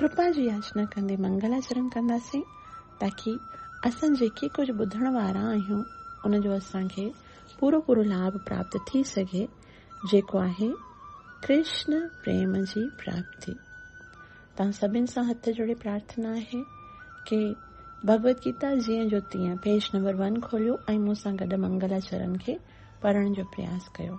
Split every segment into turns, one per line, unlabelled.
ڪرپا جي ياچنا ڪندي منگلاچرڻ ڪنداسين تاڪي اسان جيڪي ڪجهه ٻڌڻ وارا آهيون ان جو اسان کي پورو پورو لاڀ پراپت ٿي سگهي جيڪو آهي ڪرشن پريم جي پراپتي. توهان سڀن سان هٿ جوڙي پرارٿنا آهي ڪي ڀڳوت گيتا جيئن جو تيئن پيج نمبر ون کوليو ۽ مون سان گڏ منگلاچرڻ کي پڙهڻ جو پرياس ڪيو.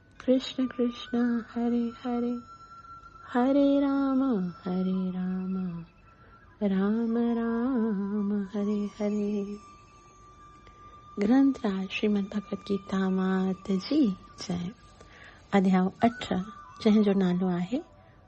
ڪرشن ڪرشن هري هري هري رام هري رام رام رام هري هري گرنٿ راء شريمد ڀگوت گيتا مات جي جئ اڌيائو اٺ جنهن جو نالو آهي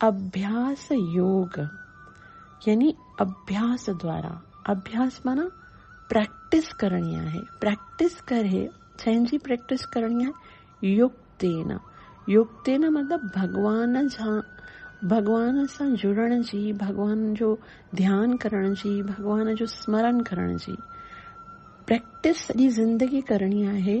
اڀياس يوگ يعني اڀياس دوارا، اڀياس معنيٰ پريڪٽس ڪرڻي آهي، پريڪٽس ڪري، ڇنهن جي پريڪٽس ڪرڻي آهي؟ يوگتين، يوگتين مطلب ڀڳوان جا، ڀڳوان سان جڙڻ جي، ڀڳوان جو ڌيان ڪرڻ جي، ڀڳوان جو سمرن ڪرڻ جي پريڪٽس سڄي زندگي ڪرڻي آهي،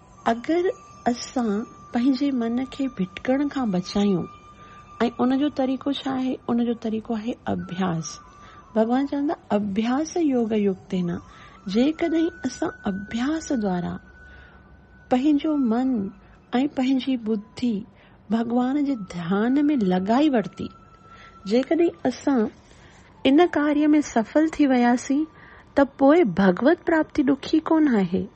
اگر اسان پنهنجي من کي ڀٽڪڻ کان بچايون ۽ ان جو طريقو ڇا آهي؟ ان جو طريقو آهي اڀياس. ڀڳوان چون ٿا اڀياس يوگ يوڪتين جيڪڏهن اسان اڀياس دوارا پنهنجو من ۽ پنهنجي ٻڌي ڀڳوان جي ڌيان ۾ لڳائي ورتي جيڪڏهن اسان ان ڪاري ۾ سڦل ٿي وياسين ته پوء ڀڳوت پراپتي ڏکي ڪونه آهي.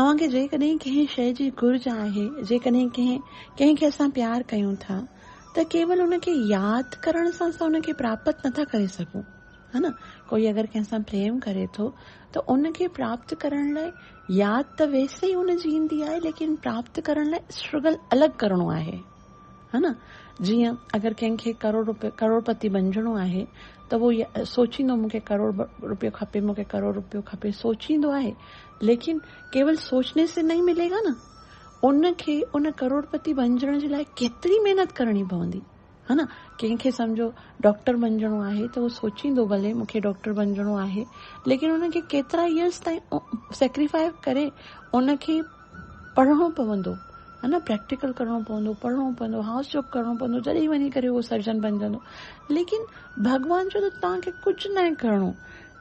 اوهان کي جيڪڏهن ڪنهن شيء جي گهرج آهي، جيڪڏهن ڪنهن ڪنهن کي اسان پيار ڪيون ٿا ته ڪيول ان کي ياد ڪرڻ سان اسان ان کي پراپت نٿا ڪري سگهون. ها نه؟ ڪوئي اگر ڪنهن سان پريم ڪري ٿو ته ان کي پراپت ڪرڻ لاء ياد ته ويسي ئي ان جي ايندي آهي ليڪن پراپت ڪرڻ لاء اسٽرگل الڳ ڪرڻو آهي. ها نه؟ جيئن اگر ڪنهن کي ڪروڙ ڪروڙپتي بنجڻو آهي ته اهو سوچيندو مون کي ڪروڙ روپيو کپي، مون کي ڪروڙ روپيو کپي سوچيندو آهي؟ ليڪن ڪيول سوچني سي نهين ملي گا نه ان کي ان ڪروڙپتي بنجڻ جي لاء ڪيتري محنت ڪرڻي پوندي ها نه ڪنهن کي سمجهو ڊاڪٽر بنجڻو آهي ته هو سوچيندو ڀلي مون کي ڊاڪٽر بنجڻو آهي ليڪن ان کي ڪيترا ايئرس تائين سيڪريفائي ڪري ان کي پڙهڻو پوندو ها نه پريڪٽيڪل ڪرڻو پوندو پڙهڻو پوندو هائوس جاب ڪرڻو پوندو جڏهن وڃي ڪري هو سرجن بنجندو ليڪن ڀڳوان چيو ته توهان کي ڪجهه ناهي ڪرڻو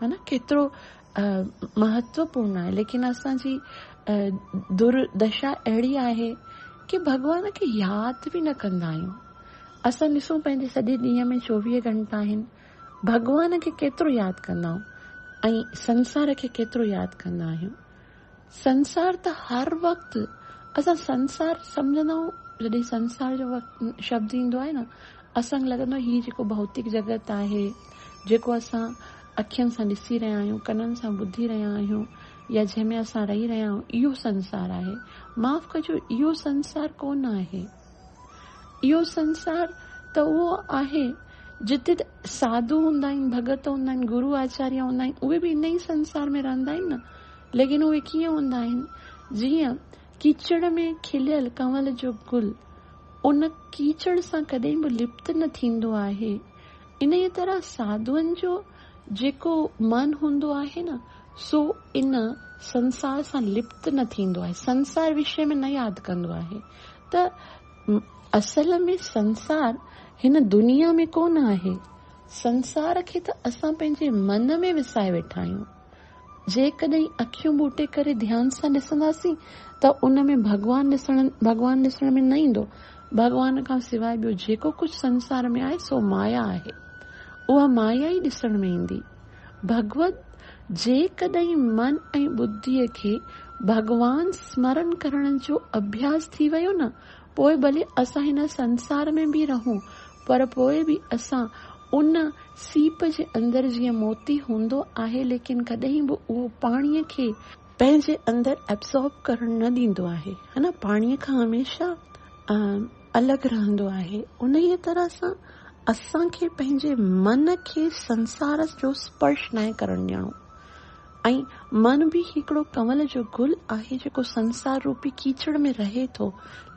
ها نه ڪيترو مهتوپورن آهي ليڪن اسان جي دردشا اهڙي آهي ڪي ڀڳوان کي ياد به نه ڪندا آهيون اسان ڏسون پنهنجي سڄي ڏينهن ۾ چوويهه گهنٽا آهن ڀڳوان کي ڪيترو ياد ڪندا آهيون ۽ سنسار کي ڪيترو ياد ڪندا آهيون سنسار ته هر وقت اسان سنسار سمجهندا آهيون جڏهن سنسار جو شبد ايندو آهي نه اسان کي لڳندو آهي هي جيڪو ڀوتڪ جڳت آهي جيڪو اسان اکين سان ڏسي رهيا آهيون ڪنن سان ٻڌي رهيا آهيون يا جنهن ۾ اسان رهي رهيا آهيون اهو سنسار آهي معاف ڪجو اهو سنسار ڪونه آهي. اهو سنسار ته اهو آهي جتي ته ساڌو هوندا آهن، ڀڳت هوندا آهن، گرو آچاريا هوندا آهن، اهي به ان ئي سنسار ۾ رهندا آهن نه، ليڪن اهي ڪيئن هوندا آهن، جيئن ڪيچڙ ۾ کليل ڪنول جو گل ان ڪيچڙ سان ڪڏهن به لپت نه ٿيندو آهي، انهيء طرح ساڌوئن جو جيڪو من هوندو آهي نه، سو ان سنسار سان لپت نه ٿيندو آهي، سنسار وشي ۾ نه ياد ڪندو آهي. ته اصل ۾ سنسار هن دنيا ۾ ڪونه آهي، سنسار کي ته اسان پنهنجي من ۾ وسائي ويٺا آهيون. جيڪڏهن اکيون ٻوٽي ڪري ڌيان سان ڏسنداسين ته ان ۾ ڀڳوان ڏسڻ ڀڳوان ڏسڻ ۾ نه ايندو. ڀڳوان کان سواء ٻيو جيڪو ڪجهه سنسار ۾ آهي سو مايا آهي. اها مايا ئي ڏسڻ ۾ ايندي. ڀڳوت، جيڪڏهن من ۽ ٻڌيء کي ڀڳوان سمرن ڪرڻ جو اڀياس ٿي ويو نه، پوء ڀلي اسان هن سنسار ۾ به رهون، پر پوء به اسان ان سيپ جي اندر جيئن موتي هوندو آهي، ليڪن ڪڏهن به اهو پاڻيء کي، پنهنجي اندر Absorb ڪرڻ نه ڏيندو آهي، پاڻيء کان هميشه الڳ رهندو آهي انهيء طرح سان اسان کي پنهنجي من کي سنسار جو سپرش ناهي ڪرڻ ڏيڻو ۽ من به هڪڙو ڪنول جو گل آهي جيڪو سنسار روپي ڪيچڙ ۾ رهي ٿو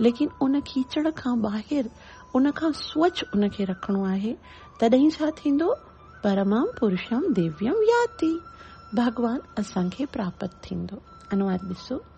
ليڪن ان ڪيچڙ کان ٻاهر ان کان سوڇ ان کي رکڻو آهي تڏهن ڇا ٿيندو پرمم پرشم ديويم ياتي ڀڳوان اسان کي پراپت ٿيندو انواد ڏسو.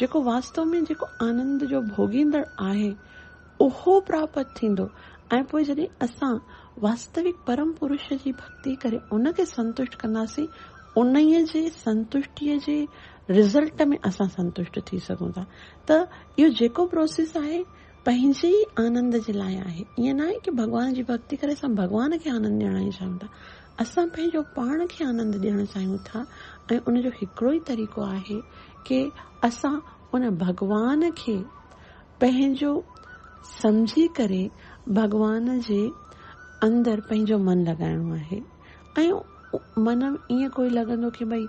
جيڪو واستو ۾ جيڪو آنند جو ڀوڳيندڙ آهي، اهو پراپت ٿيندو ۽ پوء جڏهن اسان واستوڪ پرم پرش جي ڀڳتي ڪري ان کي سنتشٽ ڪنداسين، انهيء جي سنتشٽيء جي رزلٽ ۾ اسان سنتشٽ ٿي سگهون ٿا. ته اهو جيڪو پروسيس آهي، پنهنجي ئي آنند جي لاء آهي. ائين ناهي ڪي ڀڳوان جي ڀڳتي ڪري اسان ڀڳوان کي آنند ڏيڻ آهي چاهيون ٿا. اسان پنهنجو پاڻ کي آنند ڏيڻ چاهيون ٿا ۽ ان جو هڪڙو ئي طريقو آهي ڪي اسان ان ڀڳوان کي پنهنجو سمجهي ڪري ڀڳوان جي اندر پنهنجو من لڳائڻو آهي. ۽ من ۾ ائين ڪوئي لڳندو ڪي ڀئي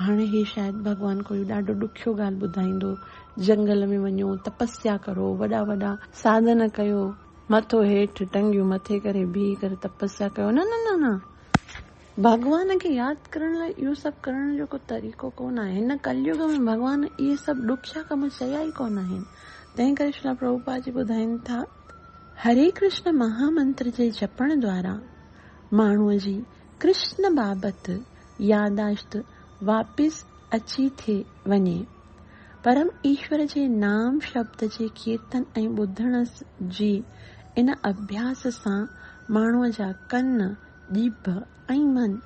هاڻي هي شايد ڀڳوان ڪوئي ڏاڍو ڏکيو ڳالهه ٻڌائيندو، جنگل ۾ وڃو، تپسيا ڪرو، وڏا وڏا. ساڌن ڪيو، مٿو هيٺ، ٽنگيون مٿي ڪري بيهي ڪري تپسيا ڪيو، نه نه نه نه، ڀڳوان کي ياد ڪرڻ لاء اهو سڀ ڪرڻ جو ڪو طريقو ڪو نه آهي، هن ڪليوگ ۾ ڀڳوان اهي سڀ ڏکيا ڪم چيا ئي ڪو نه آهن، تنهن ڪري شرلا پرڀوپاد جي ٻڌائين ٿا، هري ڪرشن مها منتر جي جپڻ دوارا. ماڻهوء جي ڪرشن بابت ياداشت واپس اچي ٿي وڃي. پرم ايشور جي نام شبد جي ڪيرتن ۽ ٻڌڻ جي ان اڀياس سان ماڻهوء جا ڪن، ڄڀ ۽ من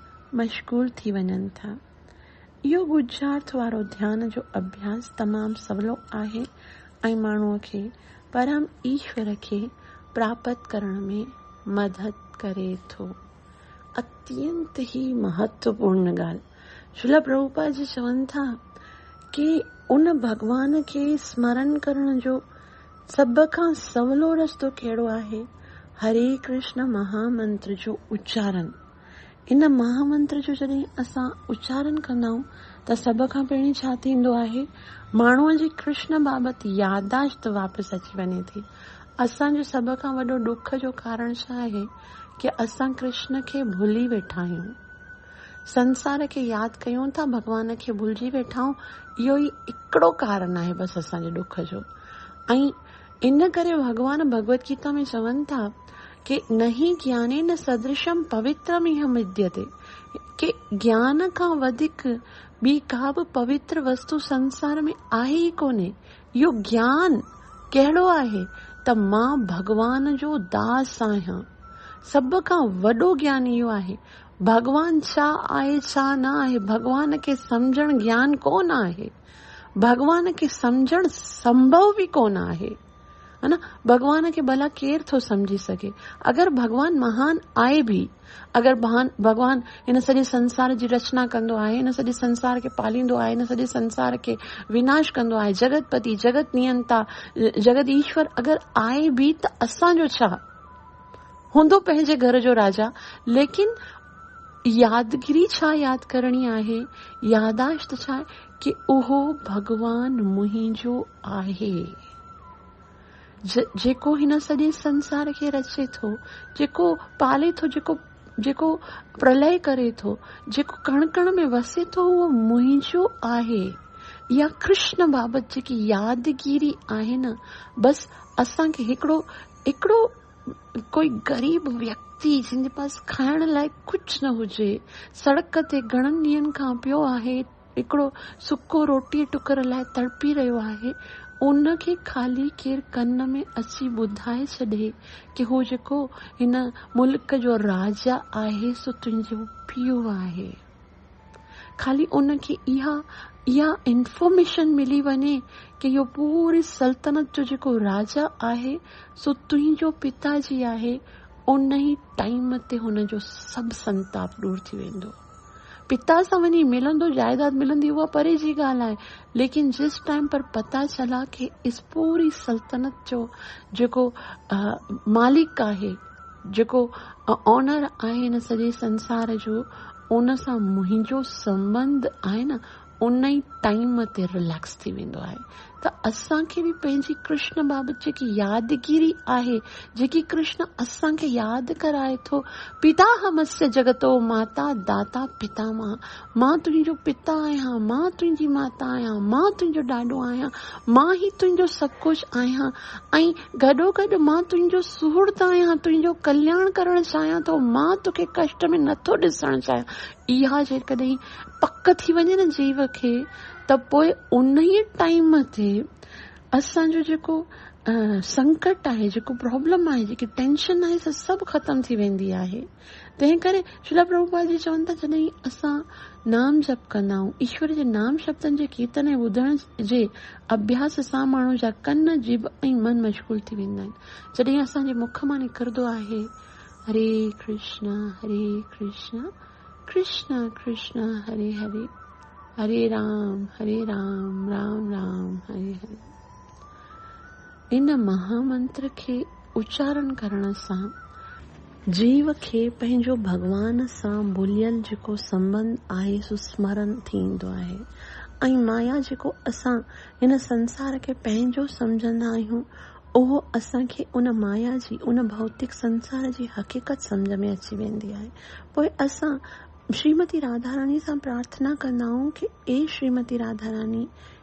مشغول ٿي وڃن ٿا. اهو ڳجهارت وارو ڌيان جو اڀياس تمام سولو آهي ۽ ماڻهوء کي پرم ايشور کي پراپت ڪرڻ ۾ مدد ڪري ٿو. اتينت ئي مهتوپورن ڳالهه، شريلا پرڀوپاد جي چون ٿا ڪي ان ڀڳوان کي سمرن ڪرڻ جو سڀ کان سولو رستو ڪهڙو آهي، هري ڪرشن مها منتر جو اچارن. ان مهامنتر جو جڏهن اسان اچارن ڪندا آهيون ته سڀ کان پهرين ڇا ٿيندو آهي؟ ماڻهوء جي ڪرشن بابت يادداشت واپس اچي وڃي ٿي. اسان جو سڀ کان وڏو ڏک جو ڪارڻ ڇا آهي ڪي اسان ڪرشن کي ڀلي ويٺا آهيون. سنسار کي ياد ڪيون ٿا ڀڳوان کي ڀلجي ويٺا آهيون اهو ئي هڪڙو ڪارڻ آهي بس اسان جي ڏک جو ۽ ان ڪري ڀڳوان ڀڳوت گيتا ۾ چون ٿا ڪي نهي گيانين سدرشم پوترم ايهه مديتي ڪي گيان کان وڌيڪ ٻي ڪا به پوتر وستو سنسار ۾ آهي ئي ڪونهي اهو گيان ڪهڙو آهي ته مان ڀڳوان جو داس آهيان سڀ کان وڏو گيان اهو آهي ڀڳوان ڇا آهي ڇا نه آهي ڀڳوان کي سمجهڻ گيان ڪونه آهي. ڀڳوان کي سمجهڻ سنڀو به ڪونه آهي. ڀڳوان کي ڀلا ڪير ٿو سمجهي سگهي؟ اگر ڀڳوان مهان آهي به، اگر ڀڳوان هن سڄي سنسار جي رچنا ڪندو آهي، هن سڄي سنسار کي پاليندو آهي، هن سڄي سنسار کي وناش ڪندو آهي، جڳت پتي، جڳت نيئنتا، جڳت ايشور اگر آهي به ته اسان جو ڇا؟ هوندو پنهنجي گهر جو راجا ليڪن يادگري ڇا ياد ڪرڻي آهي ياداشت ڇا ڪي اهو ڀڳوان منهنجو آهي جيڪو هن سڄي سنسار کي رچي ٿو جيڪو پالي ٿو جيڪو جيڪو پرلئه ڪري ٿو جيڪو ڪڻ ڪڻ ۾ وسي ٿو اهو منهنجو آهي يا ڪرشن بابت جيڪي يادگيري آهي نه بس اسان کي هڪڙو هڪڙو ڪوئي غريب ويڪتي جنهن جي پاس کائڻ لاء ڪجهه نه هجي، سڙڪ تي گهڻن ڏينهن کان پيو آهي، هڪڙو سڪو روٽيء ٽڪر لاء تڙپي رهيو آهي، ان کي خالي ڪير ڪن ۾ اچي ٻڌائي ڇڏي ڪي هو جيڪو هن ملڪ جو راجا آهي سو تنهنجو پيء آهي. خالي ان کي اها اها انفارميشن ملي وڃي ڪي اهو پوري سلطنت جو جيڪو راجا آهي سو تنهنجو پتا جي آهي ان ئي ٽائيم تي هن جو سڀ سنتاپ ڏور ٿي ويندو پتا سان وڃي ملندو جائيداد ملندي اها پري جي ڳالهه آهي ليڪن جس ٽائيم پر پتا چلا ڪي اس پوري سلطنت جو جيڪو مالڪ آهي جيڪو اونر آهي هن سڄي سنسار جو ان سان منهنجو سنٻنڌ آهي نه ان ئي ٽائيم تي رليڪس ٿي ويندو آهي ته اسان کي به پنهنجي ڪرشن بابت جيڪي يادگيري آهي جيڪي ڪرشن اسان کي ياد ڪرائي ٿو پيتا همسيا جگتو ماتا داتا پتامه مان تنهنجو پتا آهيان، مان تنهنجي ماتا آهيان، مان تنهنجو ڏاڏو آهيان، مان ئي تنهنجو سڀ ڪجهه آهيان ۽ گڏوگڏ مان تنهنجو سهرد آهيان، تنهنجو ڪلياڻ ڪرڻ چاهيان ٿو، مان توکي ڪشٽ ۾ نٿو ڏسڻ چاهيان. اها جيڪڏهن پڪ ٿي وڃي نه جيو کي ته پوء انهيء ٽائيم تي اسان جو جيڪو سنڪٽ آهي، جيڪو پرابلم آهي، جيڪي ٽينشن آهي سا سڀ ختم ٿي ويندي آهي. تنهن ڪري شيلا پرڀوپاد جي چون تان جڏهن اسان نام جپ ڪندا آهيون، ايشور جي نام شبدن جي ڪيرتن ۽ ٻڌڻ جي اڀياس سان ماڻهو جا ڪن، جيڀ ۽ من مشغول ٿي ويندا آهن. جڏهن اسان جي مک مان نڪردو آهي، هري ڪرشنا هري ڪرشنا ڪرشنا ڪرشنا هري هري، هري رام هري رام رام رام هري هري. ان مها منتر کي اچارڻ ڪرڻ سان جيو کي پنهنجو ڀڳوان سان بليل جيڪو سنٻنڌ آهي سو سمرن ٿيندو آهي ۽ مايا جيڪو اسان هن سنسار کي پنهنجو سمجهندا آهيون اهو اسان کي ان مايا جي ان ڀوتڪ سنسار جي حقيقت سمجهه ۾ اچي ويندي آهي پوء اسان شريمتي راڌاراڻي سان پرارٿنا ڪندا آهيون ڪي اي شريمتي راڌاراڻي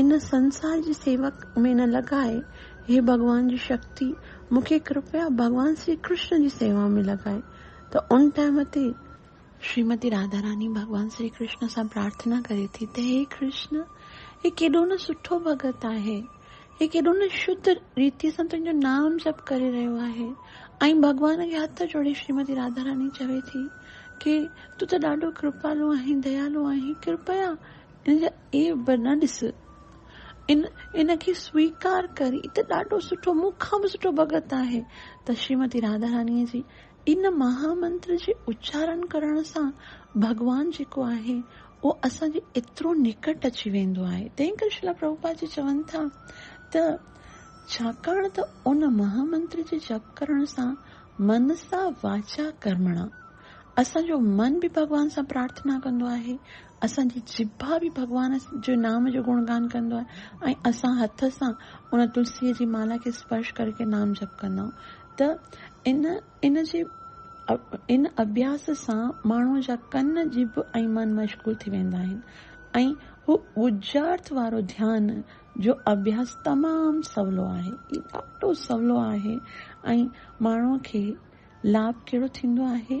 ان سنسار جي سيوڪ ۾ نه لڳائي، هي ڀڳوان جي شڪتي، مون کي ڪرپيا ڀڳوان شري ڪرشن جي سيوا ۾ لڳائي. ته ان ٽائيم تي. شريمتي راڌا راڻي ڀڳوان شري ڪرشن سان پرارٿنا ڪري ٿي ته هي ڪرشن، هي ڪيڏو نه سٺو ڀڳت آهي، هي ڪيڏو نه شڌ ريتيء سان تنهنجو نام جپ ڪري رهيو آهي. ۽ ڀڳوان کي هٿ جوڙي شريمتي راڌا راڻي چوي ٿي ڪي تون ته ڏاڍو ڪرپالو آهين، ديالو آهين، ڪرپيا، ان جا عيب به نه ڏس، ان ان کي سويڪار ڪر، هي ته ڏاڍو سٺو، مون کان به سٺو ڀڳت آهي. ته شريمتي راڌا رانيء جي ان مها منتر جي اچارڻ ڪرڻ سان ڀڳوان جيڪو آهي، اهو اسان جي ايترو نڪٽ اچي ويندو آهي. تنهن ڪري شيلا پرڀوپاد جي چون ٿا ته ڇاڪاڻ ته ان مها منتر جي جپ ڪرڻ سان منسا واچا ڪرمڻا، اسان جو من به ڀڳوان سان پرارٿنا ڪندو آهي، اسان جي جبا به ڀڳوان جي نام جو گڻگان ڪندو آهي ۽ اسان هٿ سان ان تلسيء جي مالا کي اسپرش ڪري ڪري نام جپ ڪندا آهيون ته ان ان جي ان اڀياس سان ماڻهوء جا ڪن، جڀ ۽ من مشغول ٿي ويندا آهن ۽ هو ڳجهارٿ وارو ڌيان جو اڀياس تمام سولو آهي. هي ڏاڍو سولو آهي ۽ ماڻهوء کي لاڀ ڪهڙو ٿيندو آهي؟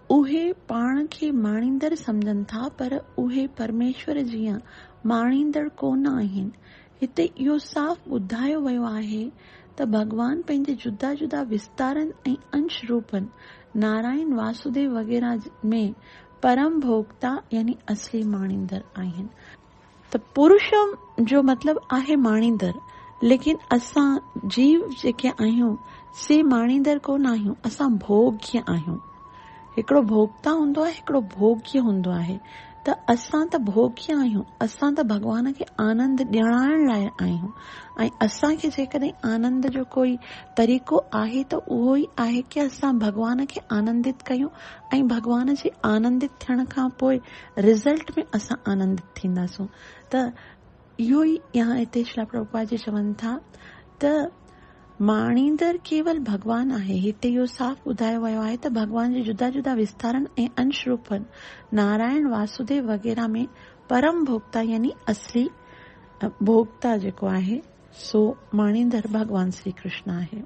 اهي پاڻ کي ماڻيندڙ سمجهن ٿا پر اهي پرميشور جيان ماڻيندڙ ڪو نه آهن. هتي اهو صاف ٻڌايو ويو آهي ته ڀڳوان پنهنجي جدا جدا وستارن ۽ انش روپن، نارائڻ، واسوديو وغيره، ۾ پرم ڀوڳتا يعني اصلي ماڻيندڙ آهن. ته پورشم جو مطلب آهي ماڻيندڙ، ليڪن اسان جيو جيڪي آهيون سي ماڻيندڙ ڪونه آهيون، اسان ڀوڳي آهيون. هڪڙو ڀوڳتا هوندو آهي هڪڙو ڀوڳي هوندو آهي ته اسان ته ڀوڳي آهيون، اسان ته ڀڳوان کي آنند ڏيڻائڻ لاء آهيون ۽ اسان کي جيڪڏهن آنند جو ڪوئي طريقو آهي ته اهو ئي آهي ڪي اسان ڀڳوان کي آنندت ڪيون ۽ ڀڳوان جي آنندت ٿيڻ کان پوء رزلٽ ۾ اسان آنندت ٿينداسون ته اهو ئي يا هتي شريلا پرڀوپاد جي چون ٿا ته ماڻيندڙ ڪيول ڀڳوان آهي هتي اهو صاف ٻڌايو ويو آهي ته ڀڳوان جي جدا جدا وستارن ۽ انش روپن نارائڻ واسوديو وغيره ۾ پرم ڀوڳتا يعني اصلي ڀوڳتا جيڪو آهي سو ماڻيندڙ ڀڳوان شري ڪرشن آهي.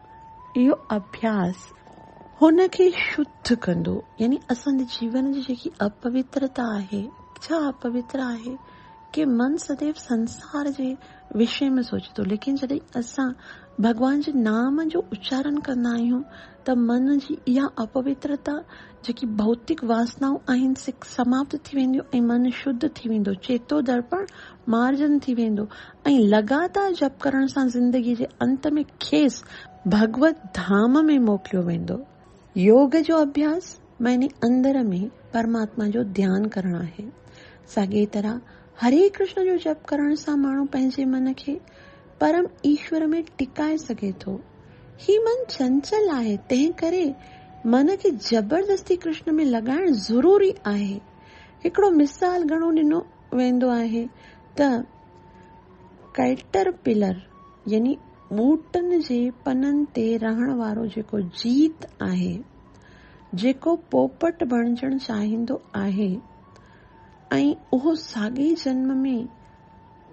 اهو اڀياس هن کي شڌ ڪندو يعني اسان جي جيون جي جيڪي اپوترتا آهي ڇا اپوتر آهي ڪي من سديو سنسار جي وشي ۾ سوچي ٿو ليڪن جڏهن اسان ڀڳوان جي نام جو اچارن ڪندا آهيون ته من جي اها اپوترتا جيڪي ڀوتڪ واسنائون آهن سي سماپت ٿي وينديون ۽ من شڌ ٿي ويندو چيتو درپڻ مارجن ٿي ويندو ۽ لڳاتار جپ ڪرڻ سان زندگي جي انت ۾ کيس ڀڳوت ڌام ۾ موڪليو ويندو. يوگ جو اڀياس معني اندر ۾ پرماتما جو ڌيان ڪرڻ آهي. ساڳيء طرح هري ڪرشن جو جپ ڪرڻ سان ماڻهو پنهنجي من کي پرم ايشور ۾ ٽڪائي سگهي ٿو. هي من چنچل آهي، تنهنڪري من کي زبردستي ڪرشن ۾ لڳائڻ ضروري آهي. هڪڙو مثال گهڻو ڏنو ويندو آهي ته. ڪئٽرپلر يعني ٻوٽن جي پنن تي رهڻ وارو جيڪو جيت آهي، جيڪو پوپٽ بڻجڻ چاهيندو آهي ۽ اهو ساڳئي جنم ۾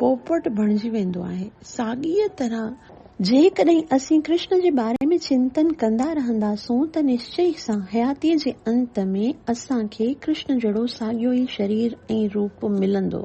پوپٽ بڻجي ويندو آهي، ساڳيء طرح، جيڪڏهن اسين ڪرشن جي باري ۾ چنتن ڪندا رهنداسون ته نشچئي سان حياتيء جي انت ۾ اسان کي ڪرشن جهڙو ساڳيو ئي شرير ۽ روپ ملندو.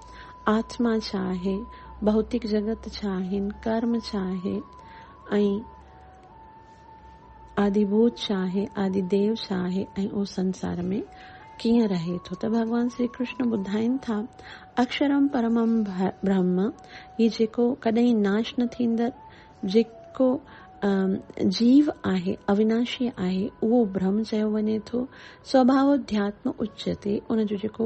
آتما ڇا آهي، ڀوتڪ جڳت ڇا آهن، ڪرم ڇا آهي ۽ آدي ڀوت ڇا آهي، آدي ديو ڇا آهي ۽ اهو سنسار ۾ ڪيئن رهي ٿو ته ڀڳوان شري ڪرشن ٻڌائين ٿا، اڪشرم پرمم برهم، هي جيڪو ڪڏهن ناش نه ٿيندڙ جيڪو جيو آهي، اويناشي آهي، اهو برهم چيو وڃي ٿو، سوڀاوڌياتم اچيتي، ان جو جيڪو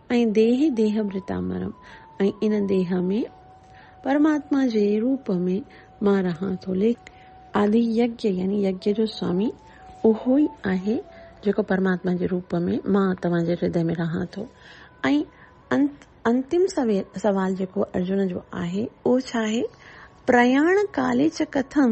۽ ديهي ديهڀرتا مرم، ۽ ان ديهه ۾ پرماتما جي روپ ۾ مان رهان ٿو، ليکي. آدي يگيا يعني يگيا جو سوامي اهو ئي آهي، جيڪو پرماتما جي روپ ۾ مان توهان جي هردي ۾ رهان ٿو. ۽ انت، انتم سوال جيڪو ارجن جو آهي، اهو ڇا آهي؟ پرياڻ ڪاليچ ڪٿم.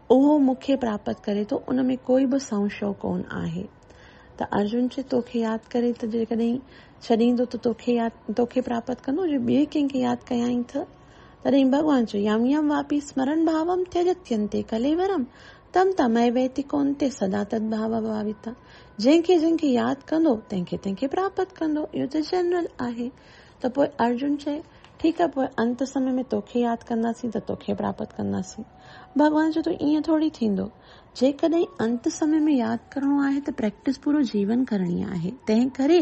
اهو مون کي پراپت ڪري ٿو، ان ۾ ڪوئي به سنشيو ڪونه آهي. ته ارجن چي، تو کي ياد ڪري ته جيڪڏهن ڇڏيندو ته تو کي ياد، تو کي پراپت ڪندو، جي ٻئي ڪنهن کي ياد ڪيائين ٿه؟ تڏهن ڀڳوان چيو، يم يم واپي سمرن ڀاوم ٿيجتينتي ڪليورم تم تميويتي ڪونتي سدا تد ڀاوا ڀاويتا. جنهن کي جنهن کي ياد ڪندو، تنهن کي تنهن کي پراپت ڪندو. اهو ته جنرل آهي. ته پوء ارجن چي، ٺيڪ آهي، پوء انت سمي ۾ تو کي ياد ڪنداسين ته تو کي پراپت ڪنداسين. ڀڳوان چيو ته ائين ٿورڙي ٿيندو. جيڪڏهن انت سمي ۾ ياد ڪرڻو آهي ته پريڪٽس پورو جيون ڪرڻي آهي. تنهنڪري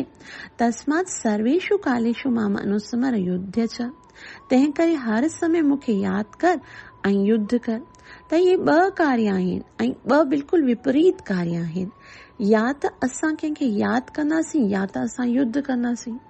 تسمات سرويشو ڪاليشو مام انوسمر يڌ چ تنهنڪري هر سمي مون کي ياد ڪر ۽ يڌ ڪر. ته اهي ٻه ڪاري آهن ۽ ٻه بلڪل وپريت ڪاري آهن. يا ته اسان ڪنهن کي ياد ڪنداسين يا ته اسان يڌ ڪنداسين.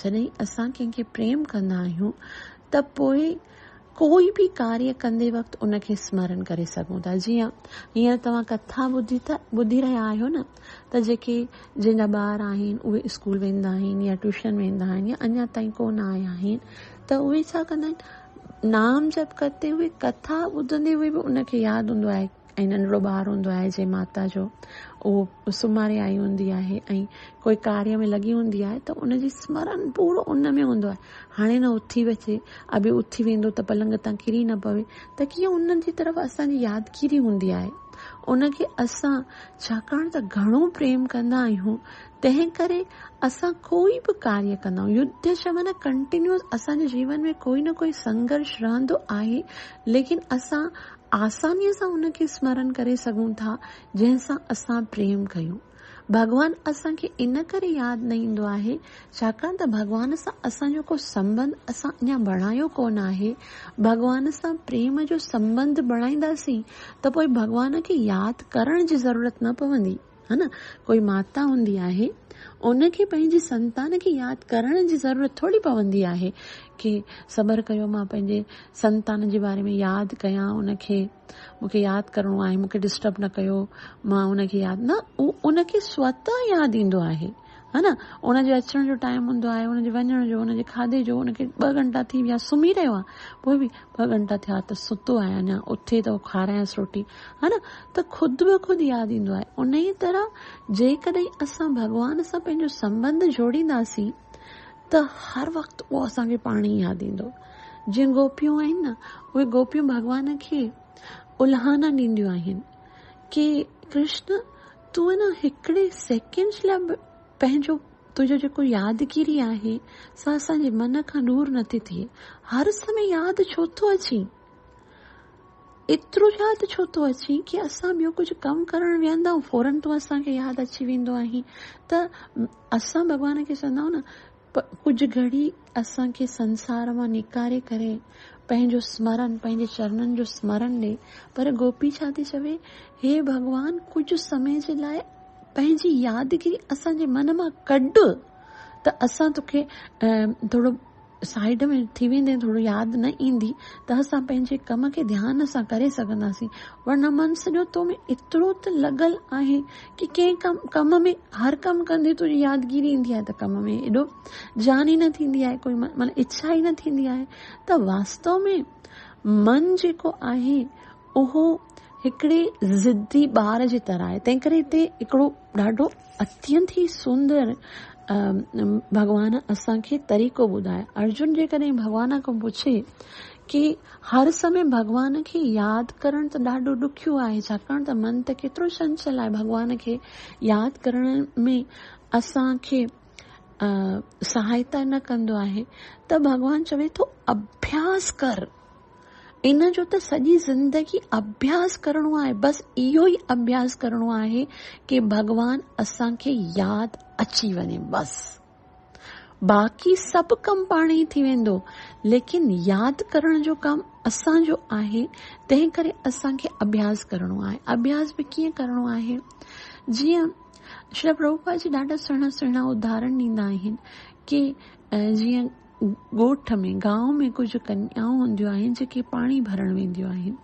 جڏهن اسان ڪنهن کي پريم ڪندا آهيون ته پوء ڪوئي به ڪاريه ڪندي وقت ان کي اسمرن ڪري سگهون ٿا جيئن هينئر توهان ڪٿا ٻڌي ٿا ٻڌي رهيا آهيو نه ته جيڪي جن جا ٻار آهن اهي اسڪول ويندا آهن يا ٽيوشن ويندا آهن يا اڃا تائين ڪونه آيا آهن ته اهي ڇا ڪندا آهن نام جپ ڪرتي هئي ڪٿا ٻڌندي هئي به ان کي ياد هوندو آهي ۽ ننڍڙو ٻار هوندو آهي جنهن ماتا جو اهو سمهاري آئي هوندي آهي ۽ ڪوئي ڪاريه ۾ لڳي هوندي آهي ته ان جي سمرن پورو ان ۾ هوندو آهي هاڻي نه اٿي اچي ابي اٿي ويندو ته پلنگ تان ڪري نه پوي ته ڪيئن ان جي طرف اسان جي يادگيري هوندي آهي ان کي اسان ڇاڪاڻ ته گهڻو پريم ڪندا آهيون تنهن ڪري اسان ڪوئي به ڪاريه ڪندا آهيون يوڌ شمن ڪنٽينيوس اسان جي جيون ۾ ڪوئي نه ڪوئي سنگرش رهندو آهي ليڪن اسان آسانيء سان ان کي سمرن ڪري سگهون ٿا جنهن سان اسان پريم ڪيون. ڀڳوان اسان کي ان ڪري ياد نه ايندو آهي ڇاڪاڻ ته ڀڳوان سان اسان جو ڪو سنٻنڌ اسان اڃا بڻايو ڪونه آهي. ڀڳوان سان پريم جو سنٻنڌ بڻائينداسين ته پوء ڀڳوان کي ياد ڪرڻ جي ضرورت نه پوندي. ها نه ڪوئي ماتا هوندي آهي ان کي پنهنجي سنتان کي ياد ڪرڻ جي ضرورت ٿوري پوندي آهي ڪي صبر ڪيو مان پنهنجي سنتان جي باري ۾ ياد ڪيان ان کي مونکي ياد ڪرڻو آهي مونکي ڊسٽرب نه ڪيو مان ان کي ياد نه ان کي سوتان ياد ايندو آهي ها نه ان جي اچڻ جو ٽائيم هوندو آهي ان جي وڃڻ جو ان جي کاڌي جو ان کي ٻه گهنٽا ٿي ويا سمهي رهيو آهي پوء به ٻه گهنٽا ٿيا ته ستو آهي اڃا اٿي ته کارائينس روٽي ها نه ته خود به خود ياد ايندو آهي ان ئي طرح جيڪڏهن اسان ڀڳوان سان پنهنجو سمبند جوڙينداسين ته هر وقت اهو اسان کي پاڻ ئي ياد ايندو جيئن گوپيون آهن نه اهي گوپيون ڀڳوان کي الهانا ڏينديون آهن ڪي ڪرشن تون انهن هڪڙي سيڪنڊ لاء به پنهنجو تنهنجو جيڪو يادگيري آهي سا اسان جي من کان دور نٿي ٿئي. هر سمي ياد ڇو ٿو اچين؟ ايترو ياد ڇو ٿو اچين ڪي اسان ٻيو ڪجهه ڪم ڪرڻ ويهندا آهيون فورن تون اسان کي ياد اچي ويندو آهين ته اسان ڀڳوان کي چوندا آهيون نه پر ڪجهه گهڙي اسان کي سنسار مان نڪاري ڪري پنهنجو سمرن، پنهنجي چرنن جو سمرن ڏي. پر گوپي ڇا ٿي چوي، هي ڀڳوان ڪجهه سمي جي لاء پنهنجي يادگيري اسان جي من مان ڪڍ ته اسان توکي ٿورو سائيڊ ۾ ٿي ويندين، ٿورو ياد نه ايندي ته اسان پنهنجي ڪم کي ڌيان سان ڪري سگهنداسين. ورنه من سڄو تو ۾ ايترو ته لڳل آهي. ڪي ڪنهن ڪم ڪم ۾ هر ڪم ڪندي تنهنجي يادگيري ايندي آهي ته ڪم ۾ ايڏو جان ئي نه ٿيندي آهي ڪوئي معنيٰ اڇا ئي نه ٿيندي آهي ته واستو ۾ من جيڪو آهي اهو هڪڙي ضدي ٻار جي طرح آهي تنهن ڪري هتي هڪڙو ڏاڍو اتينت ئي سندر ڀڳوان اسان کي طريقو ٻڌائي ارجن جيڪڏهن ڀڳوان کان پڇي ڪي هر سمي ڀڳوان کي ياد ڪرڻ ته ڏاڍو ڏکيو آهي ڇاڪاڻ ته من ته ڪيترو چنچل آهي ڀڳوان کي ياد ڪرڻ ۾ اسان کي سهائتا نه ڪندو آهي ته ڀڳوان چوي ٿو اڀياس ڪر ان جو ته سڄي زندگي اڀياس ڪرڻو آهي بس اهو ئي اڀياس ڪرڻو آهي ڪي ڀڳوان اسان کي ياد اچي وڃي بس. باقي سڀ ڪم پاڻ ئي ٿي ويندو ليڪن ياد ڪرڻ جو ڪم اسان جو آهي تنهن ڪري اسان کي اڀياس ڪرڻو آهي اڀياس به ڪيئن ڪرڻو آهي جيئن شري پرڀوپا جي ڏاڍا سهڻا سهڻا اداهرن ڏيندا آهن ڪي جيئن ڳوٺ ۾ گاؤ ۾ ڪجهه ڪنيائون هونديون آهن جيڪي پاڻي ڀرڻ وينديون آهن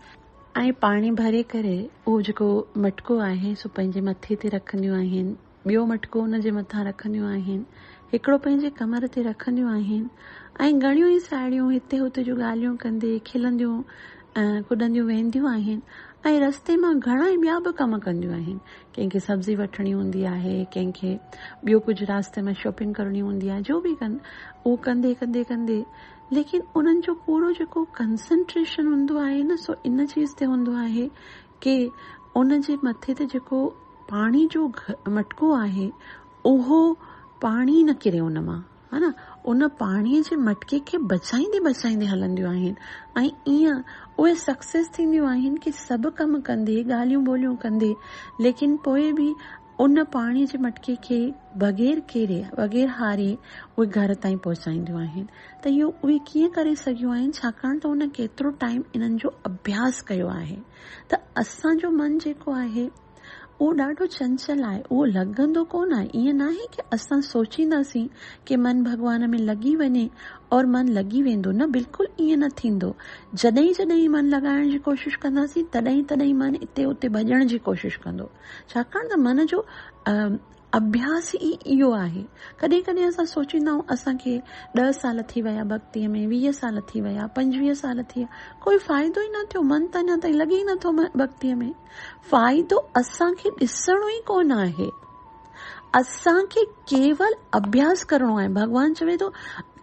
۽ پاڻي ڀري ڪري اهو جيڪو مٽڪو آهي سو پنهنجي مٿي تي رکنديون آهن ٻيو مٽڪو ان جي مٿان رکنديون آهن، هڪڙو پنهنجي ڪمر تي رکنديون آهن ۽ گهڻيون ئي ساهيڙيون هتي هتي جون ڳالهيون ڪندي کلنديون ۽ ڪڏنديون وينديون آهن ۽ رستي مان گهڻا ئي ٻيا به ڪم ڪنديون آهن. ڪنهن کي سبزي وٺڻي هوندي آهي، ڪنهن کي ٻيو ڪجهه راسته ۾ شاپنگ ڪرڻي هوندي آهي، جو به ڪن اهو ڪندي ڪندي ڪندي ليڪن انهن جو پورو جيڪو ڪنسنٽريشن هوندو آهي نه سو ان چيز تي هوندو آهي ڪي ان جي مٿي تي جيڪو پاڻي جو مٽڪو آهي اهو پاڻي نه ڪري ان مان هان ان پاڻي جي مٽڪي کي بچائيندي بچائيندي هلنديون آهن ۽ ايئن اهي سڪسيس ٿينديون آهن ڪي سڀ ڪم ڪندي ڳالهيون ٻولهيون ڪندي ليڪن پوء به ان پاڻي جي مٽڪي کي بغير ڪيري، بغير هاري اهي گهر تائين پهچائينديون آهن ته اهو اهي ڪيئن ڪري سگهيون آهن ڇاڪاڻ ته هن ڪيترو ٽائيم انهن جو اڀياس ڪيو آهي ته اسان جو من جيڪو آهي اهو ڏاڍو چنچل آهي اهو لڳندو ڪونه آهي ائين ناهي ڪي اسان سوچينداسين ڪي من ڀڳوان ۾ لڳي وڃي اور من لڳي ويندو نه بلڪل ائين نه ٿيندو جڏهين جڏهين من لڳائڻ جي ڪوشش ڪنداسين تڏهين تڏهين من اتي اتي ڀڄڻ جي ڪوشش ڪندو. ڇاڪاڻ ته من جو اڀياس ئي اهو آهي. ڪڏهن ڪڏهن اسان سوچيندا آهيون اسان کي ڏهه سال ٿي ويا ڀڳتيء ۾، ويهه سال ٿي ويا، پنجويهه سال ٿي ويا، ڪوئي فائدو ئي نه ٿيو، من ته اڃا تائين لڳي ئي نٿو ڀڳتيء ۾. فائدو اسان کي ڏسڻو ئي ڪونه آهي. اسان کي ڪيول اڀياس ڪرڻو آهي. ڀڳوان چوي ٿو.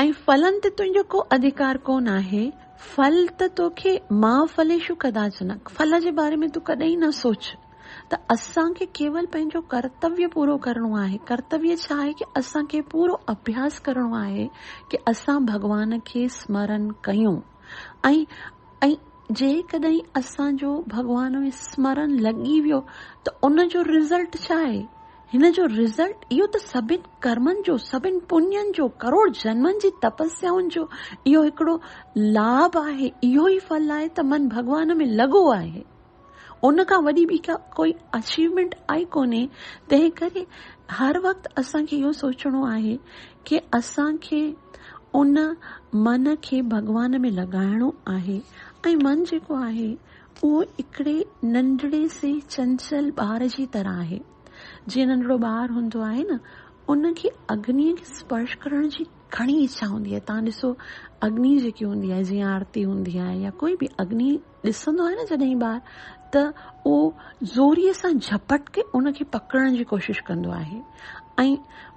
۽ ڦلن تي تنهنجو ڪو اڌڪار ڪونه آهي، ڦل ته توکي ماء ڦليشو ڪداچنڪ، ڦل جي باري ۾ تون ڪڏهن ئي نه سوچ ته اسان کي ڪيول پنهنجو ڪرتويه پورو ڪرڻو آهي، ڪرتويه ڇا آهي ڪي اسان کي پورو اڀياس ڪرڻو آهي ڪي اسان ڀڳوان کي سمرن ڪيون ۽ جيڪڏهن اسان جو ڀڳوان ۾ سمرن لڳي ويو ته ان جو رزلٽ ڇا آهي؟ هن جو رزلٽ اهو ته سڀن ڪرمن جو، سڀن پڃن جو، ڪروڙ جنمن جي تپسيائن جو اهو هڪڙو لاڀ آهي، اهو ئي ڦل آهي ته من ڀڳوان ۾ لڳو آهي. ان کان وڏي ٻي ڪا ڪوئي اچيومينٽ آهي ڪونهي، تنهن ڪري هر وقت اسان کي اهو سوچڻو آهي ڪي اسان کي ان من کي ڀڳوان ۾ لڳائڻو آهي ۽ من جيڪو آهي اهو هڪڙي ننڍڙي سي چنچل ٻار جي طرح آهي. جيئن ننڍڙو ٻار هوندو آهي نه، ان کي اگنيء کي اسپرش ڪرڻ جي گهڻي اڇا هوندي آهي. توهان ڏسو اگني جيڪي هوندي آهي جيئن آرتي هوندي آهي يا ڪوئي به اگني ڏسندو آهي نه جڏهن ٻار ته اهو زوريء سان جهپٽ ڪي ان کي پڪڙڻ جي ڪوشش ڪندو آهي ۽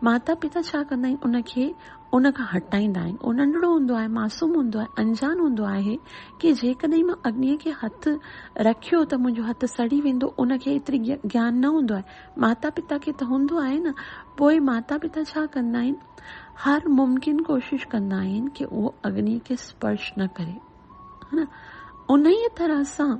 ماتا پتا ڇا ڪندا آهن ان کي ان کان هٽائيندا آهن. اهو ننڍڙو هوندو آهي، معصوم هوندو آهي، انجان هوندو آهي ڪي جيڪڏهن مان اگنيء کي هٿ رکيو ته منهنجو هٿ سڙي ويندو، ان کي ايتري گيان نه هوندو آهي. ماتا پتا کي ته هوندو آهي نه، پوء ماتا پتا ڇا ڪندا آهن؟ هر ممڪن ڪوشش ڪندا آهن ڪي اهو اگنيء کي اسپرش نه ڪري. انهيء طرح سان.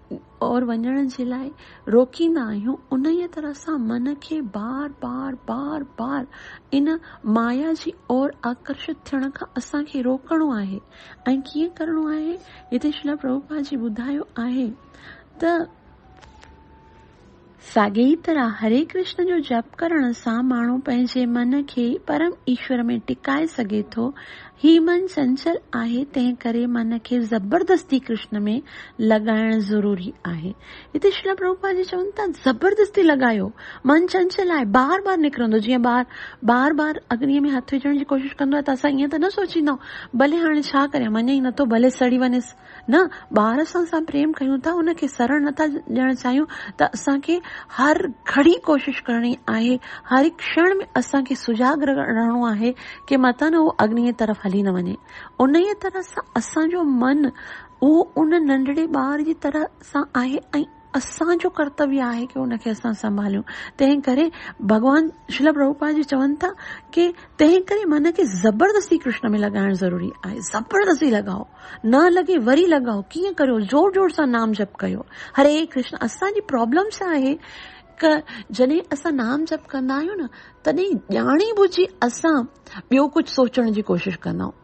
اور وڃڻ جي لاء روڪيندا آهيون انهيء طرح سان من کي بار بار بار بار ان مايا جي اور آڪرشت ٿيڻ کان اسان کي روڪڻو آهي ۽ ڪيئن ڪرڻو آهي هتي شريلا پرڀوپاد جي ٻڌايو آهي ته ساڳي ئي طرح هري ڪرشن جو جپ ڪرڻ سان ماڻهو پنهنجي من کي پرم ايشور ۾ ٽڪائي سگهي ٿو. هي من چنچل آهي، تنهن ڪري من کي زبردستي ڪرشن ۾ لڳائڻ ضروري آهي. هتي شريلا پرڀوپاد جي چون ٿا زبردستي لڳايو، من چنچل آهي، بار بار نڪرندو، جيئن ٻار بار بار اگنيء ۾ هٿ وجهڻ جي ڪوشش ڪندو آهي ته اسان ائين ته نه سوچيندا آهيون، ڀلي هاڻي ڇا ڪريان، مڃي ئي نٿو، ڀلي سڙي وڃيس. نه ٻار سان اسان پريم ڪيون ٿا ان کي سرڻ نه ٿا ڏيڻ چاهيون ته اسان کي هر گهڙي ڪوشش ڪرڻي آهي هر هڪ ڪشڻ ۾ اسان کي سجاڳ رهڻو آهي ڪي متان اهو اگنيء طرف هلي نه وڃي انهيء طرح سان اسان جو من اهو ان ننڍڙي ٻار جي طرح سان آهي ۽ اسان جو ڪرتويه آهي ڪي ان کي اسان سنڀاليون تنهن ڪري ڀڳوان شريل پرڀوپاد جي چون ٿا ڪي تنهن ڪري من کي زبردستي ڪرشن ۾ لڳائڻ ضروري آهي زبردستي لڳائو نه لڳي وري لڳائو ڪيئن ڪريو زور زور سان نام جپ ڪيو هري ڪرشن اسان جي پرابلم ڇا آهي ڪه جڏهن اسان نام جپ ڪندا آهيون نه تڏهن ڄاڻي ٻجهي اسان ٻيو ڪجهه سوچڻ جي ڪوشش ڪندا آهيون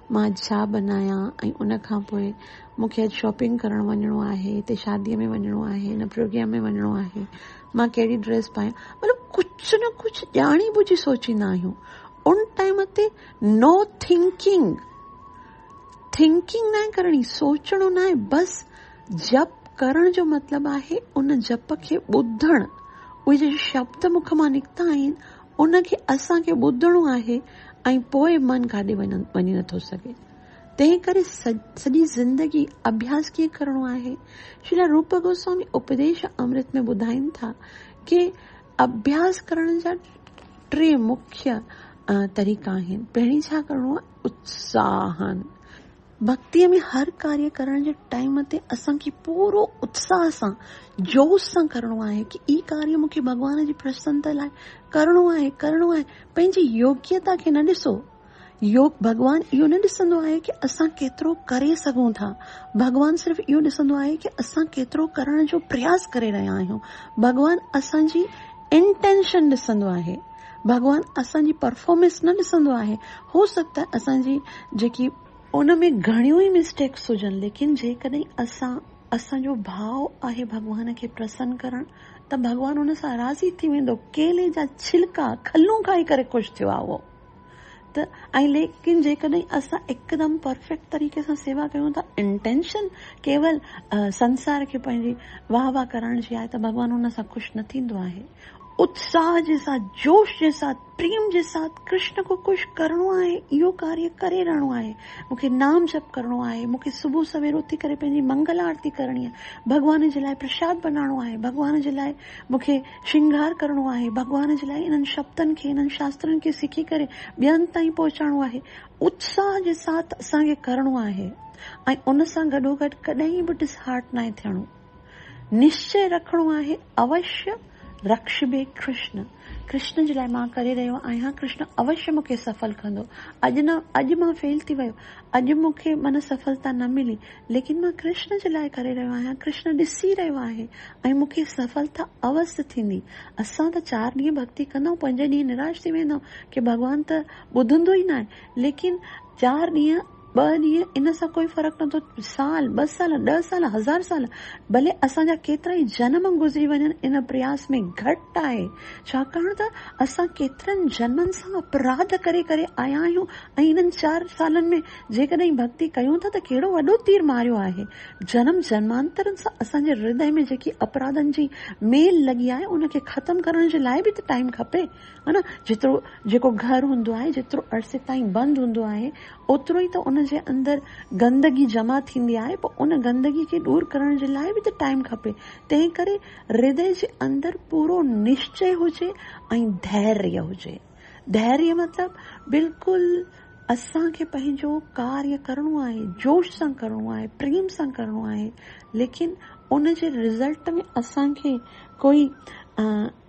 مان اڄ ڇا بنايان ۽ ان کان پوء مون کي اڄ شاپنگ ڪرڻ وڃڻو آهي، هتي شاديء ۾ وڃڻو آهي، هن پروگرام ۾ وڃڻو آهي، مان ڪهڙي ڊريس پايان، مطلب ڪجهه نه ڪجهه ڄاڻي ٻجهي سوچيندا آهيون. ان ٽائيم تي نو ٿنڪنگ، ٿنڪنگ ناهي ڪرڻي، سوچڻو ناهي، بس جپ ڪرڻ جو مطلب آهي ان جپ کي ٻڌڻ، اهي جيڪي شبد مک مان نڪتا آهن، ان کي اسان کي ٻڌڻو آهي ۽ پوء من ڪاڏي وڃي نٿو سگهي. تنهن ڪري سڄي زندگي اڀياس ڪيئن ڪرڻو آهي؟ شريلا روپ گوسوامي اپديش امرت ۾ ٻڌائين ٿا ڪي اڀياس ڪرڻ جا ٽي مکيه طريقا آهن. پهرين ڇا ڪرڻو آهي؟ اتساهن. ڀڳتيء ۾ هر ڪاريه ڪرڻ جي ٽائيم تي اسان کي پورو اتساهه سان، جوش سان ڪرڻو آهي ته هي ڪاريه مون کي ڀڳوان جي پرسنتا لاء ڪرڻو آهي، ڪرڻو آهي. پنهنجي يوگيتا کي نه ڏسو. يوگ ڀڳوان اهو نه ڏسندو آهي ته اسان ڪيترو ڪري سگهون ٿا. ڀڳوان صرف اهو ڏسندو آهي ته اسان ڪيترو ڪرڻ جو پرياس ڪري رهيا آهيون. ڀڳوان اسان جي Intention ڏسندو آهي. ڀڳوان اسان جي پرفارمنس نه ڏسندو آهي هو سگهه ته اسان جي جيڪي ان ۾ گهڻيون ئي مسٽيڪس هجن ليڪن جيڪڏهن اسان اسان جو ڀاء آهي ڀڳوان کي پرسن ڪرڻ ته ڀڳوان ان سان راضي ٿي ويندو ڪيلي جا ڇلڪا کلون کائي ڪري خوش ٿيو آهي اهو ته ۽ ليڪن جيڪڏهن اسان هڪدم پرفيڪٽ طريقي سان سيوا ڪيون ٿا انٽينشن ڪيول سنسار کي پنهنجي واهه واهه ڪرڻ جي آهي ته ڀڳوان ان سان خوش نه ٿيندو آهي اتساهه جي ساٿ، جوش جي ساٿ، پريم جي ساٿ ڪرشن کي خوش ڪرڻو آهي، اهو ڪاريه ڪري رهڻو آهي. مون کي نام جپ ڪرڻو آهي، مون کي صبح سوير اٿي ڪري پنهنجي منگل آرتي ڪرڻي آهي، ڀڳوان جي لاء پرشاد بنائڻو آهي، ڀڳوان جي لاء مون کي شنگهار ڪرڻو آهي، ڀڳوان جي لاء انهن شبدن کي، انهن شاسترن کي سکي ڪري ٻين تائين پهچائڻو آهي. اتساهه جي ساٿ اسان کي ڪرڻو آهي ۽ ان سان گڏوگڏ ڪڏهن به ڊس هارٽ ناهي ٿيڻو. نشچي رکڻو آهي اوشي رڪشڀي ڪرشن، ڪرشن جي لاء مان ڪري رهيو آهيان، ڪرشن اوشي مون کي سڦل ڪندو، اڄ نه اڄ مان فيل ٿي ويو، اڄ مون کي من سڦلتا نه ملي، ليڪن مان ڪرشن جي لاء ڪري رهيو آهيان، ڪرشن ڏسي رهيو آهي ۽ مون کي سڦلتا اوس ٿيندي. اسان ته چار ڏينهن ڀڳتي ڪندائون پنجين ڏينهن نراش ٿي ويندائون ڪي ڀڳوان ته ٻڌندو ئي ناهي، ليڪن چار ڏينهن. ٻه ڏينهن ان سان ڪوئي فرق نٿو سال ٻه سال ڏهه سال هزار سال ڀلي اسان جا ڪيترائي جنم گذري وڃن ان پرياس ۾ گهٽ آهي ڇاڪاڻ ته اسان ڪيترن جنمن سان اپراڌ ڪري ڪري آيا آهيون ۽ انهن چار سالن ۾ جيڪڏهن ڀڳتي ڪيون ٿا ته ڪهڙو وڏو تير ماريو آهي جنم جنمانترن سان اسان جي هردئي ۾ جيڪي اپراڌن جي ميل لڳي آهي ان کي ختم ڪرڻ جي لاء به ته ٽائيم کپي ها نه جيترو جيڪو گهر هوندو آهي جيترو عرصي تائين بند هوندو آهي اوترو ئي ته ان جي اندر گندگي جمع ٿيندي آهي پوء ان گندگي کي ڏور ڪرڻ جي لاء به ته ٽائيم کپي تنهن ڪري هردي جي اندر پورو نشچي هجي ۽ ڌيريه هجي ڌيريه مطلب بلڪل اسان کي پنهنجو ڪاريه ڪرڻو آهي جوش سان ڪرڻو آهي پريم سان ڪرڻو آهي ليڪن ان جي رزلٽ ۾ اسان کي ڪوئي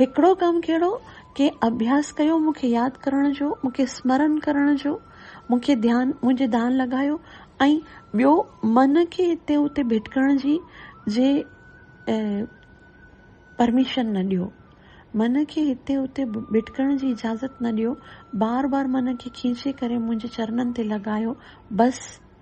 هڪڙو ڪم ڪهڙو، ڪنهن اڀياس ڪيو مون کي ياد ڪرڻ جو، مون کي سمرن ڪرڻ جو، مون کي ڌيان، منهنجي ڌان لڳايو ۽ ٻيو من کي هتي اتي ڀٽڪڻ جي جي پرميشن نه ڏيو. من کي هتي اتي ڀٽڪڻ جي اجازت نه ڏيو، بار بار من کي کينچي ڪري منهنجي چرنن تي لڳايو، بس!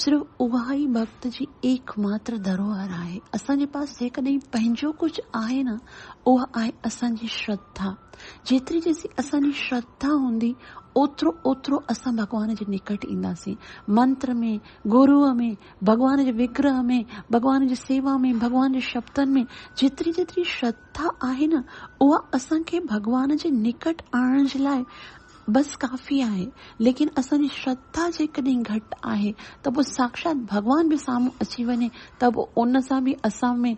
صرف اها ئي ڀڳت جي ايڪ ماتر ڌروهر آهي. اسان جي پاس جيڪڏهن پنهنجو ڪجهه آهي نه اها آهي اسان جي شرڌا. جيتري جيسين اسان جي شرڌا هوندي اوترو اوترو اسان ڀڳوان جي نڪٽ اينداسين. منتر ۾، گروء ۾، ڀڳوان جي وگرهه ۾، ڀڳوان جي سيوا ۾، ڀڳوان جي شبدن ۾ جيتري جيتري شرڌا آهي نه اها اسان کي ڀڳوان جي نڪٽ آڻڻ جي لاء بس ڪافي آهي، ليڪن اسان جي شرڌا جيڪڏهن گهٽ آهي ته پوء ساکشات ڀڳوان به سامهون اچي وڃي ته به ان سان به اسان ۾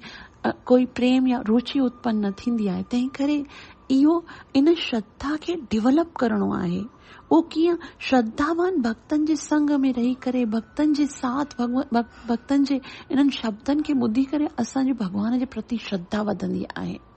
ڪوئي پريم يا روچي اتپن نه ٿيندي آهي، تنهن ڪري اهو ان شرڌا کي ڊيولپ ڪرڻو آهي، اهو ڪيئن؟ شرڌاوان ڀڳتن جي سنگ ۾ رهي ڪري، ڀڳتن جي ساٿ، ڀڳتن جي انهن شبدن کي ٻڌي ڪري اسان جي ڀڳوان جي پرتي شرڌا وڌندي آهي.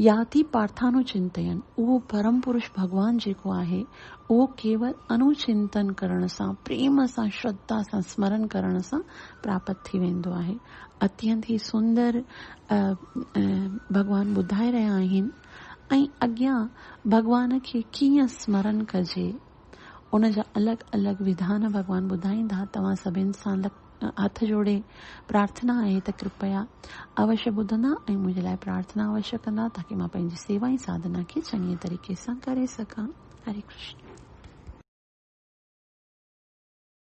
يا ٿي پارٿانو چنتين، اهو پرم پرش ڀڳوان جيڪو آهي، اهو ڪيول انو چنتن ڪرڻ سان، پريم سان، شرڌا سان اسمرن ڪرڻ سان پراپت ٿي ويندو آهي. اتينت ئي سندر ڀڳوان ٻڌائي رهيا آهن ۽ اڳيان ڀڳوان کي ڪيئن اسمرن ڪجي، ان جا الڳ الڳ وڌان ڀڳوان ٻڌائيندا، توهان سڀن سان لک. هٿ جوڙي پرارٿنا آهي ته ڪرپيا اوشي ٻڌندا ۽ منهنجي لاء پرارٿنا اوشي ڪندا تاڪي مان پنهنجي سيوا ۽ ساڌنا کي چڱي طريقي سان ڪري سگهان. هري ڪرشن.